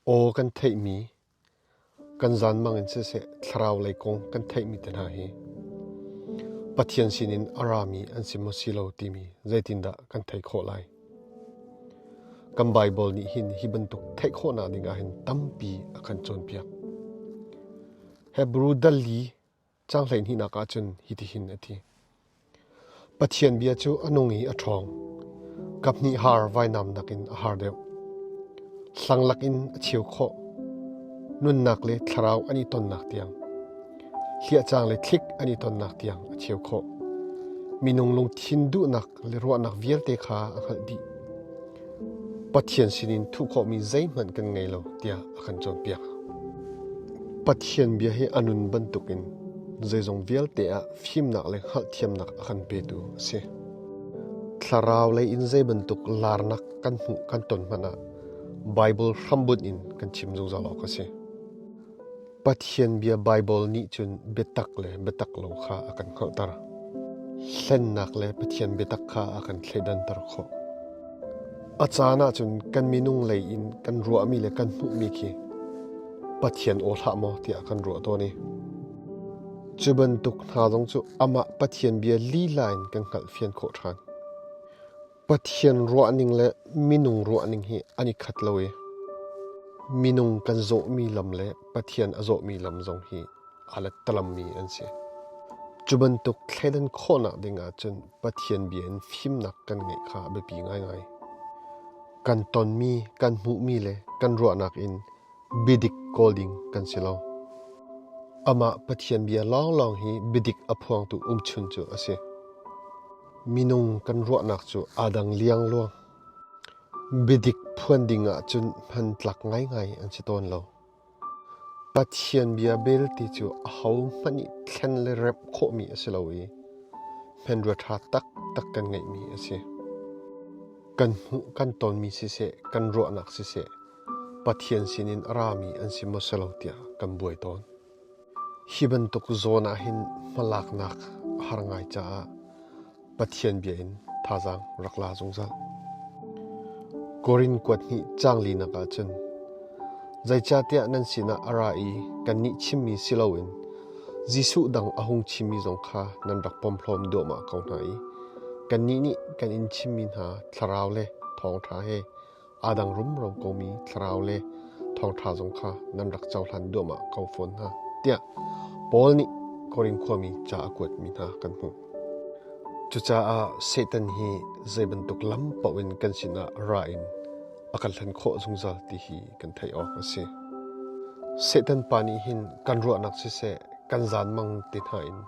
Aw kan theihmi, kan zanmang in siseh thlarau lei kong kan theihmi te hna hi Pathian sinin a rami an si maw si lo timi zeitindah kan theih khawh lai? Kan Baibal nih hin hi bantuk theih khawhnak ding ah hin tampi a kan cawnpiak. Hebru dal li Cang hleihnihnak ah cun hitihin a ti: Pathian bia cu a nung i a ṭhawng. Kaphnih har vainam nakin a har deuh. Hlang lakin a cheu khawh. Nunnak le thlarau an i tonnak tiang, hliahcang le thlik an i tonnak tiang a cheu khawh. Minung lungthin duhnak le ruahnak vialte kha a hngalh dih. Pathian sinin thuh khawhmi zeihmanh kan ngei lo tiah a kan cawnpiak. Pathian bia hi a nun bantukin zeizong vialte ah fimnak le hngalhthiamnak a kan petu a si. Thlarau lei in zei bantuk larnak kan hmuh kan ton hmanh ah Baibal hrambunh in kan chim zungzal awk a si. Pathian Bia Baibal nih cun biatak le biatak lo kha a kan hngalhter. Hlennak le Pathian biatak kha a kan thleidanter khawh. A caan ah cun kan minung lei in kan ruahmi le kan hmuhmi khi Pathian aw hlah maw tiah kan ruah tawn i cu bantuk hna zong cu amah Pathian bia lila in kan hngalh fian khawh ṭhan. Pathian ruahning le minung ruahning hi an i khat lo i minung kan zawhmi lam le Pathian a zawhmi lam zong hi aa lettalammi an si. Cu bantuk thleidan khawhnak ding ahcun Pathian bia in fimnak kan ngeih kha a biapi ngaingai. Kan tonmi, kan hmuhmi le kan ruahnak in biadik kawl ding kan si lo. Amah Pathian bia lawnglawng hi biadik a phuangtu umchun cu a si. Minung kan ruahnak cu aa dang liangluang. Biadik phuan ding ahcun hman tlak ngaingai an si tawn lo. Pathian bia belte cu ahohmanh nih thlen le remh khawhmi a si lo i hmanrua ṭha taktak kan ngeihmi a si. Kan hmuh kan tonmi siseh, kan ruahnak siseh, Pathian sinin a rami an si maw si lo tiah kan buai tawn. Hi bantuk zawn ah hin hmalaknak a har ngai caah Pathian bia in thazaang rak la zungzal. Korin kuat hnih cang linak ah cun zeicahtiah nan sinah a ra i kannih chimmi si loin Jesuh dang a hung chimmi zong kha nan rak pomhlawm duahmah ko hna i kannih nih kan in chimmi hna thlarau le thawngṭha he aa dang rumro komi thlarau le thawngṭha zong kha nan rak cohlan duahmah ko fawn hna tiah Paul nih Korin khuami ca a kuatmi hna kan hmuh. Cucaah Satan hi zei bantuk lam paoh in kan sinah ra in a kan hlen khawh zungzal ti hi kan theih awk a si. Satan pa nih hin kan ruahnak siseh kan zanmang ti hna in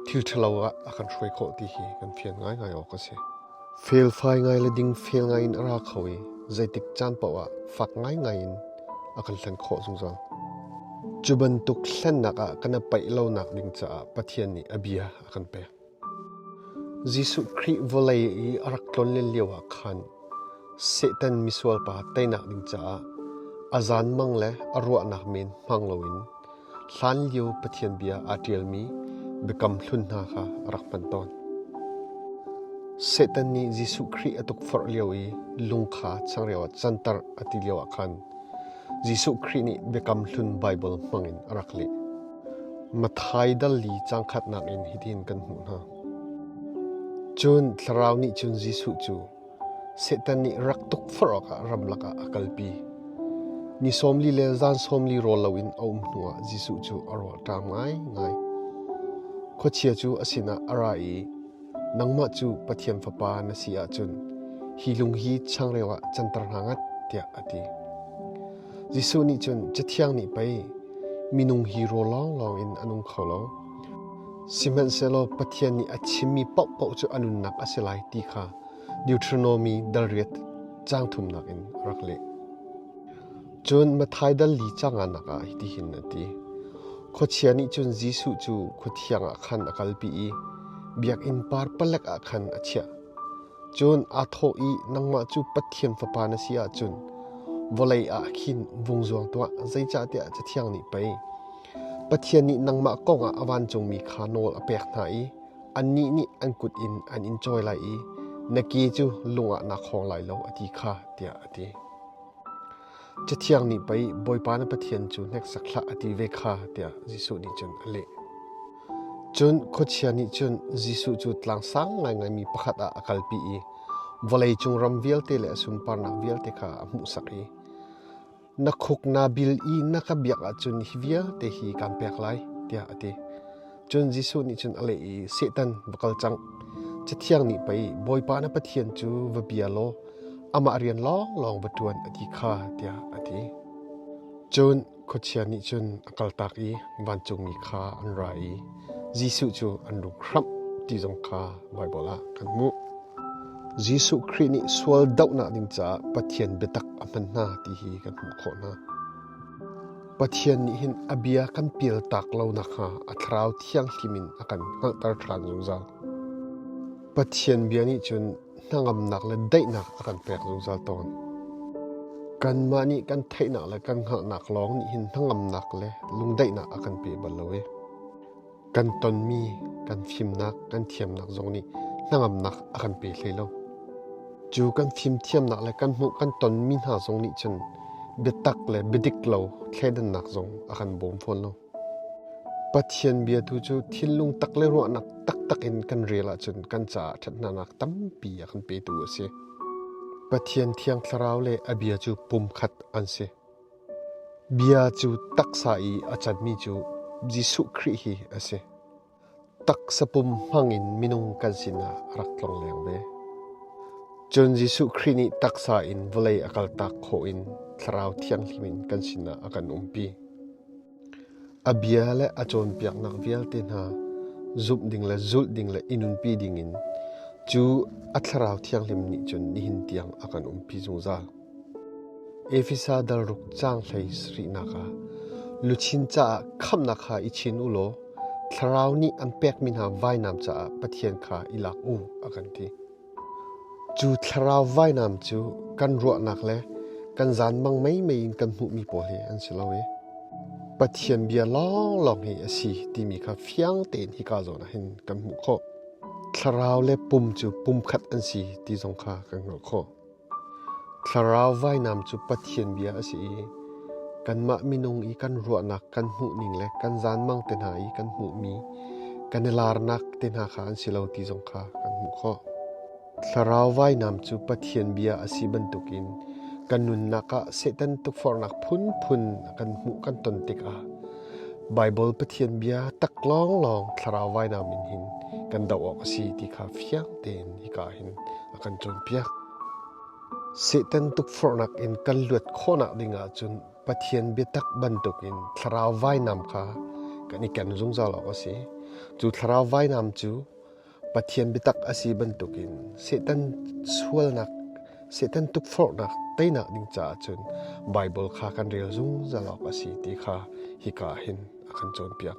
thil ṭhalo ah a kan hruai khawh ti hi kan fian ngaingai awk a si. Felfai ngai le ding fel ngai in a ra kho i zeitik caan paoh ah fak ngaingai in a kan hlen khawh zungzal. Cu bantuk hlennak ah kan i paih lonak ding caah Pathian nih a bia a kan pek. Jesuh Khrih vawlei i a rak tlonlen lio ah khan Satan misual pa teinak ding caah a zan mang le a ruahnak men hmang loin Hlanlio Pathian bia aa ṭialmi biakam hlun hna kha a rak hman tawn. Satan nih Jesuh Khrih a tukforh lio i lung kha changreu ah canter a ti lioah khan Jesuh Khrih nih Biakam Hlun Baibal hmangin a rak leh. Matthai dal li cangkhatnak in hitin kan hmuh hna. Cun Thlarau nih cun Jesuh cu Satan nih rak tukforh awkah ramlak ah a kalpi. Ni sawmli le zan sawmli rawl loin a um hnuah Jesuh cu a rawlṭam ngaingai. Khuachia cu a sinah a ra i, Nangmah cu Pathian Fapa na si ahcun hi lung hi changreu ah canter hna ngat, tiah a ti. Jesuh nih cun Cathiang nih pei minung hi rawl lawnglawng in a nung kho lo. Sihmanhsehlaw Pathian nih a chimmi paohpaoh cu a nunnak a si lai ti kha Deuteronomi dal riat caang thumnak in a rak leh. Cun Matthai dal li canganak ah hitin a ti: Khuachia nih cun Jesuh cu khuathiang ah khan a kalpi i biakinn par palek ah khan a chiah. Cun aa thawh i, “Nangmah cu Pathian Fapa na si ahcun vawlei ah khin vung zuang tuah, zeicahtiah Cathiang nih pei, Pathian nih nangmah kongah a vancungmi kha nawl a pek hna i annih nih an kut in an in cawi lai i na ke cu lungah naa khawng lai lo, a ti kha, tiah a ti. Cathiang nih pei Bawipa na Pathian cu hneksak hlah a ti ve kha, tiah Jesuh nih cun a leh. Cun khuachia nih cun Jesuh cu tlang sang ngaingaimi pakhat ah a kalpi i vawleicung ram vialte le a sunparnak vialte kha a hmuhsak i Na khuk naa bil i na ka biak ahcun hi vialte hi kaan pek lai, tiah a ti. Cun Jesuh nih cun a leh i, Satan, va kal cang. Cathiang nih pei, Bawipa na Pathian cu va bia law amah rian lawnglawng va ṭuan a ti kha, tiah a ti. Cun khuachia nih cun a kaltak i vancungmi kha an ra i Jesuh cu an rum hram ti zong kha Baibal ah kan hmuh. Jesuh Khrih nih sual dohnak ding caah Pathian biatak a hman hna ti hi kan hmuh khawh hna. Pathian nih hin a bia kan pialtak lo nakhnga a thlarau thianghlim in a kan hngalhter ṭhan zungzal. Pathian bia nih cun hnangamnak le daihnak a kan pek zungzal tawn. Kanmah nih kan theihnak le kan hngaknak lawng nih hin hnangamnak le lungdaihnak a kan pe bal lo e. Kan tonmi, kan fimnak, kan thiamnak zong nih hnangamnak a kan pe hlei lo. Cu kan fim thiamnak le kan hmuh kan tonmi hna zong nih cun biatak le biadik lo thleidannak zong a kan bawm fawn lo. Pathian bia tu cu thinlung tak le ruahnak taktak in kan rel ahcun kan caah ṭhathnanak tampi a kan petu a si. Pathian thiang thlarau le a bia cu pumkhat an si. Bia cu taksa i a canmi cu Jesuh Khrih hi a si. taksa pum hmangin minung kan sinah a rak tlong leng ve. Cun Jesuh Khrih nih taksa in vawlei a kaltak khawh in thlarau thianghlim in kan sinah a kan umpi. A bia le a cawnpiaknak vialte hna zumh ding le zulh ding le inunpi dingin cu a thlarau thianghlim nih cun nihin tiang a kan umpi zungzal. Efesa dalruk caang hlei sarihnak ah luchin caah khamhnak kha i chin u law Thlarau nih an pekmi hna vainam caah Pathian kha i lak u, a kan ti. Cu thlarau vainam cu kan ruahnak le kan zanmang meimei in kan hmuhmi pawl hi an si lo i Pathian bia lawnglawng hi a si timi kha fiang tein hika zawn ah hin kan hmuh khawh. Thlarau le pum cu pumkhat an si ti zong kha kan hngalh khawh. Thlarau vainam cu Pathian bia a si i kanmah minung i kan ruahnak kan hmuhning le kan zanmang te hna i kan hmuhmi kan i laarnak te hna kha an si lo ti zong kha kan hmuh khawh. Thlarau vainam cu Pathian bia a si bantukin kan nunnak ah Satan tukforhnak phunphun a kan hmuh kan ton tikah Baibal Pathian bia tak lawnglawng thlarau vainam in hin kan doh awk a si ti kha fiang tein hika hin a kan cawnpiak. Satan tukforhnak in kan luat khawhnak ding ahcun Pathian biatak bantukin thlarau vainam kha kan i ken zungzal awk a si. Cu thlarau vainam cu Pathian biatak a si bantukin Satan sualnak, Satan tukforhnak teinak ding caah cun Baibal kha kan rel zungzal awk a si ti kha hika hin a kan cawnpiak.